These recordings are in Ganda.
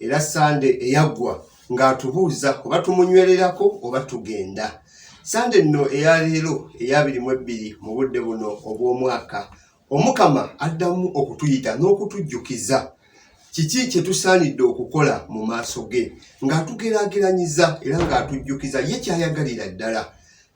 era sande eyaggwa ng'atubuuza oba tumunywererako oba tugenda sande nno eya leero eyabiri mu ebbiri mu budde buno obw'omwaka omukama addamu okutuyita n'okutujjukiza kiki kye tusaanidde okukola mu maaso ge ng'atugeraageranyiza era ng'atujjukiza ye kyayagalira ddala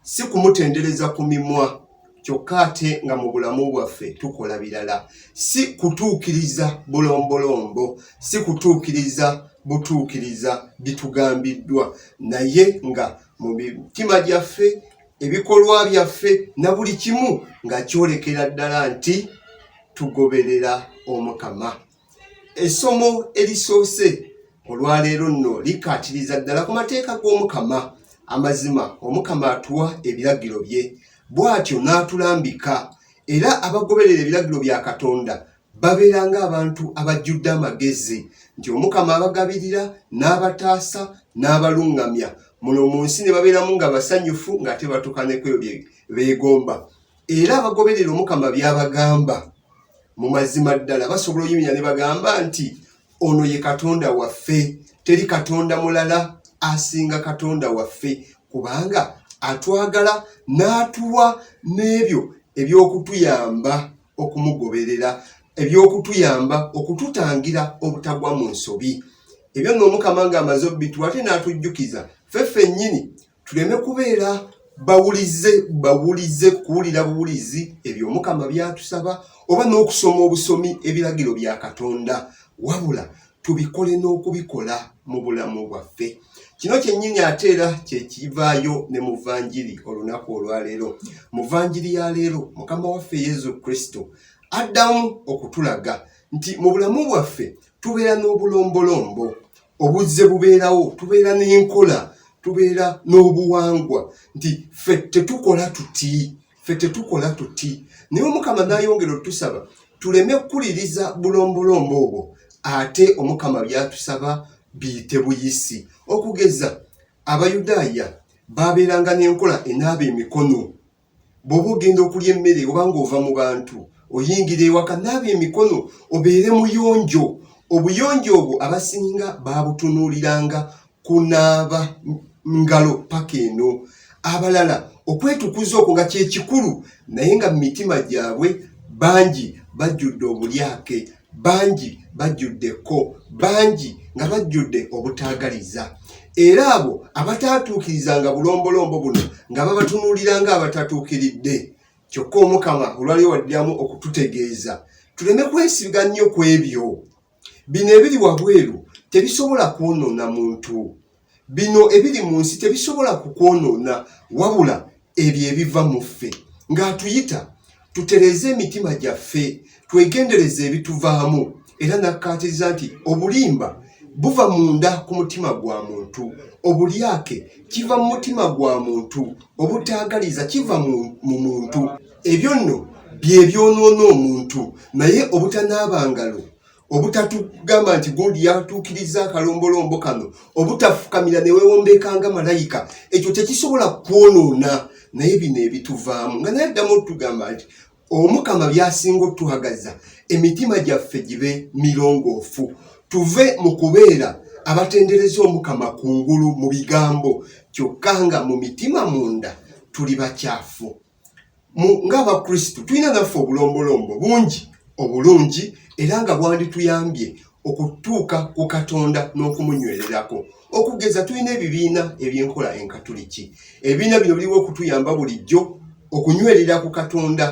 si kumutendereza ku mimwa kyokka ate nga mu bulamu bwaffe tukola birala si kutuukiriza bulombolombo si kutuukiriza butuukiriza bitugambiddwa naye nga mu mitima gyaffe ebikolwa byaffe na buli kimu nga kyolekera ddala nti tugoberera omukama essomo erisoose olwaleero nno likkaatiriza ddala ku mateeka g'omukama amazima omukama atuwa ebiragiro bye bw'atyo n'atulambika era abagoberera ebiragiro bya katonda babeera ng'abantu abajjudde amagezi nti omukama abagabirira n'abataasa n'abaluŋŋamya muno mu nsi ne babeeramu nga basanyufu ng'ate batuuka ne kweyo bye beegomba era abagoberera omukama byabagamba mu mazima ddala basobola oyimira ne bagamba nti ono ye katonda waffe teri katonda mulala asinga katonda waffe kubanga atwagala n'atuwa n'ebyo eby'okutuyamba okumugoberera eby'okutuyamba okututangira obutagwa mu nsobi ebyo nno omukama ng'amaze obbituwa ate n'atujjukiza ffe ffennyini tuleme kubeera bawulize bawulize kuwulira buwulizi ebyo omukama byatusaba oba n'okusoma obusomi ebiragiro bya katonda wabula tubikole n'okubikola mu bulamu bwaffe kino kyennyini ate era kyekivaayo ne muvanjiri olunaku olwaleero muvanjiri ya leero mukama waffe yesu kristo addamu okutulaga nti mu bulamu bwaffe tubeera n'obulombolombo obuzze bubeerawo tubeera n'enkola tubeera n'obuwangwa nti ffe tetukola tuti ffe tetukola tuti naye omukama nayongera otusaba tuleme kukuliriza bulombolombo obwo ate omukama byatusaba biyite buyisi okugeza abayudaaya baabeeranga n'enkola enaaba emikono bw'oba ogenda okulya emmere oba ng'ova mu bantu oyingira ewaka naaba emikono obeere muyonjo obuyonjo obwo abasinga baabutunuuliranga kunaaba ngalo paka eno abalala okwetukuza okwo nga kyekikulu naye nga mu mitima gyabwe bangi bajjudde obulyake bangi bajjudde ekko bangi nga bajjudde obutaagaliza era abo abataatuukirizanga bulombolombo buno nga babatunuulira nga abatatuukiridde kyokka omukama olwaliwo waddiramu okututegeeza tuleme kwesiga nnyo ku ebyo bino ebiri wabweru tebisobola kwonoona muntu bino ebiri mu nsi tebisobola kukwonoona wabula ebyo ebiva mu ffe ng'atuyita tutereeze emitima gyaffe twegendereze ebituvaamu era nakkaatiriza nti obulimba buva munda ku mutima gwa muntu obulyake kiva mu mutima gwa muntu obutaagaliza kiva mu muntu ebyo nno bye byonoona omuntu naye obutanaaba ngalo obutatugamba nti god yatuukiriza akalombolombo kano obutafukamira newewombekanga malayika ekyo tekisobola kwonoona naye bino ebituvaamu nga naye addamu otugamba nti omukama byasinga otuhagaza emitima gyaffe gibe mirongoofu tuve mu kubeera abatendereza omukama ku ngulu mu bigambo kyokka nga mu mitima munda tuli bakyafu ng'abakristu tulina naffe obulombolombo bungi obulungi era nga bwandituyambye okutuuka ku katonda n'okumunywererako okugeza tulina ebibiina eby'enkola enkatuliki ebibiina bino biriwo okutuyamba bulijjo okunywerera ku katonda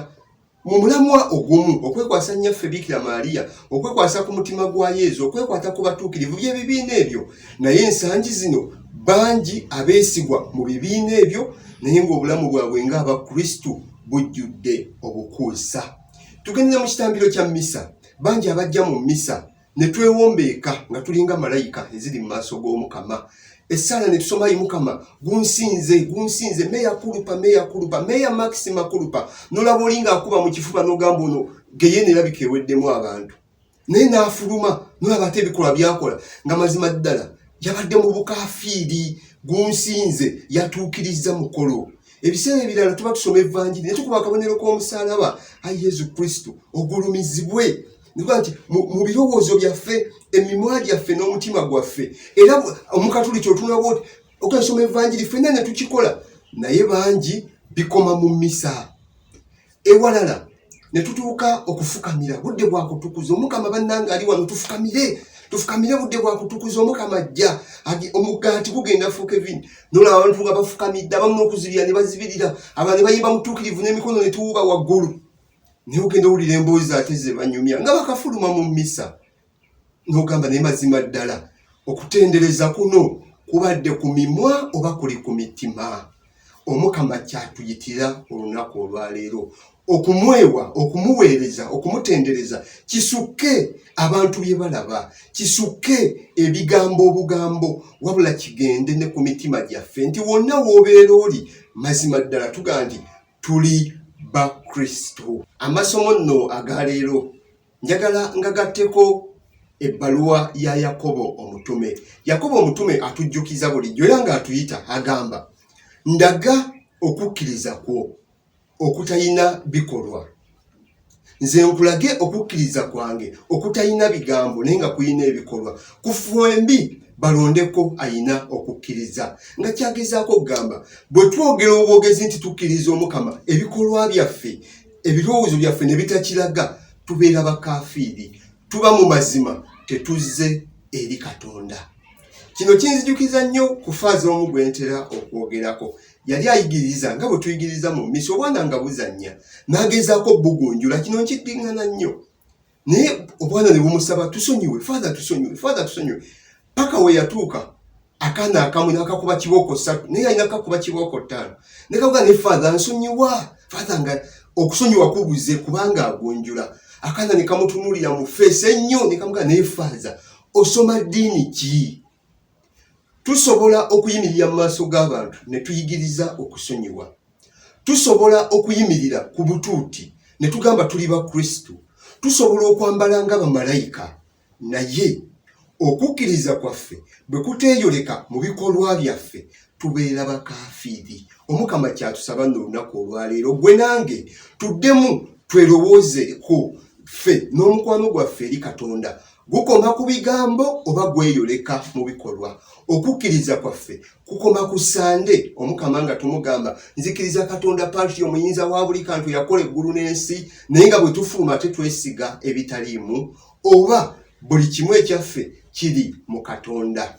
mu mulamwa ogumu okwekwasa nnyaffe biikira maaliya okwekwasa ku mutima gwa yezu okwekwata ku batuukirivu by'ebibiina ebyo naye ensangi zino bangi abeesigwa mu bibiina ebyo naye ng'obulamu bwabwe ng'abakristu bujjudde obukuusa tugendera mu kitambiro kya mmisa bangi abajja mu mmisa ne twewombeeka nga tulinga malayika eziri mu maaso g'omukama esaala ne tusoma yi mukama gunsinze gunsinze meya kulupa meya kulupa meya maxima kulupa nolaba olinga akuba mu kifuba n'ogamba ono geyena erabika eweddemu abantu naye n'afuluma nolaba ate ebikolwa byakola nga mazima ddala yabadde mu bukafiiri gunsinze yatuukirizza mukolo ebiseera ebirala tuba tusoma evanjiri naye tukuba akabonero k'omusalaba ayi yesu kristo ogulumizibwe nikuba nti mu birowoozo byaffe emimwa gyaffe n'omutima gwaffe era omukatuli kyotunaba oti okasoma evanjiri fenna netukikola naye bangi bikoma mu misa ewalala ne tutuuka okufukamira budde bwa kutukuza omukama bannanga ali wano tufukamire tufukamire budde bwa kutukuza omukama ajja omugaati gugenda fuuka evini nola abantu nga bafukamidde abamu n'okuzibira ne bazibirira abantu ne bayimba mutuukirivu n'emikono ne tuwuba waggulu naye ogenda owulira emboozi ate ze banyumya nga bakafuluma mu mmisa n'ogamba naye mazima ddala okutendereza kuno kubadde ku mimwa oba kuli ku mitima omukama kyatuyitira olunaku olwaleero okumwewa okumuweereza okumutendereza kisukke abantu bye balaba kisukke ebigambo obugambo wabula kigende ne ku mitima gyaffe nti wonna w'obeera oli mazima ddala tuga nti tuli bakristo amasomo nno agaleero njagala ngagatteko ebbaluwa ya yakobo omutume yakobo omutume atujjukiza bulijjo era ng'atuyita agamba ndaga okukkiriza kwo okutalina bikolwa nze nkulage okukkiriza kwange okutalina bigambo naye nga kulina ebikolwa ku fwembi balondeko ayina okukkiriza nga kyagezaako okugamba bwe twogera obwogezi nti tukkiriza omukama ebikolwa byaffe ebirowoozo byaffe ne bitakiraga tubeera bakafiiri tuba mu mazima tetuzze eri katonda kino kinzijukiza nnyo ku faaza omu gwe ntera okwogerako yali ayigiriza nga bwe tuyigiriza mu misi obwana nga buzannya n'agezaako bugunjula kino nkiddiŋŋana nnyo naye obwana ne bumusaba tusonyiwe father tusonyiwe father tusonyiwe paka we yatuuka akaana akamu nakakuba kibooko ssatu naye alina kakuba kibooko ttaano nekakuga ne father nsonyiwa father nga okusonyiwa kubuze kubanga agunjula akaana nekamutunulira mu feesi ennyo nekamuga naye father osoma ddiini ki Tusobola okuyimirira mu maaso g'abantu ne tuyigiriza okusonyiwa. Tusobola okuyimirira ku butuuti ne tugamba tuli ba Kristo. Tusobola okwambala nga bamalayika, naye okukkiriza kwaffe bwe kuteeyoleka mu bikolwa byaffe tubeera bakafiiri. Omukama kyatusaba no olunaku olwaleero, gwe nange tuddemu twerowoozeeko ffe n'omukwano gwaffe eri Katonda Gukoma ku bigambo oba gweyoleka mu bikolwa? Okukkiriza kwaffe kukoma ku Ssande Omukama nga tumugamba, nzikiriza Katonda Patri omuyinza wa buli kantu yakola eggulu n'ensi, naye nga bwe tufuluma ate twesiga ebitaliimu, oba buli kimu ekyaffe kiri mu Katonda?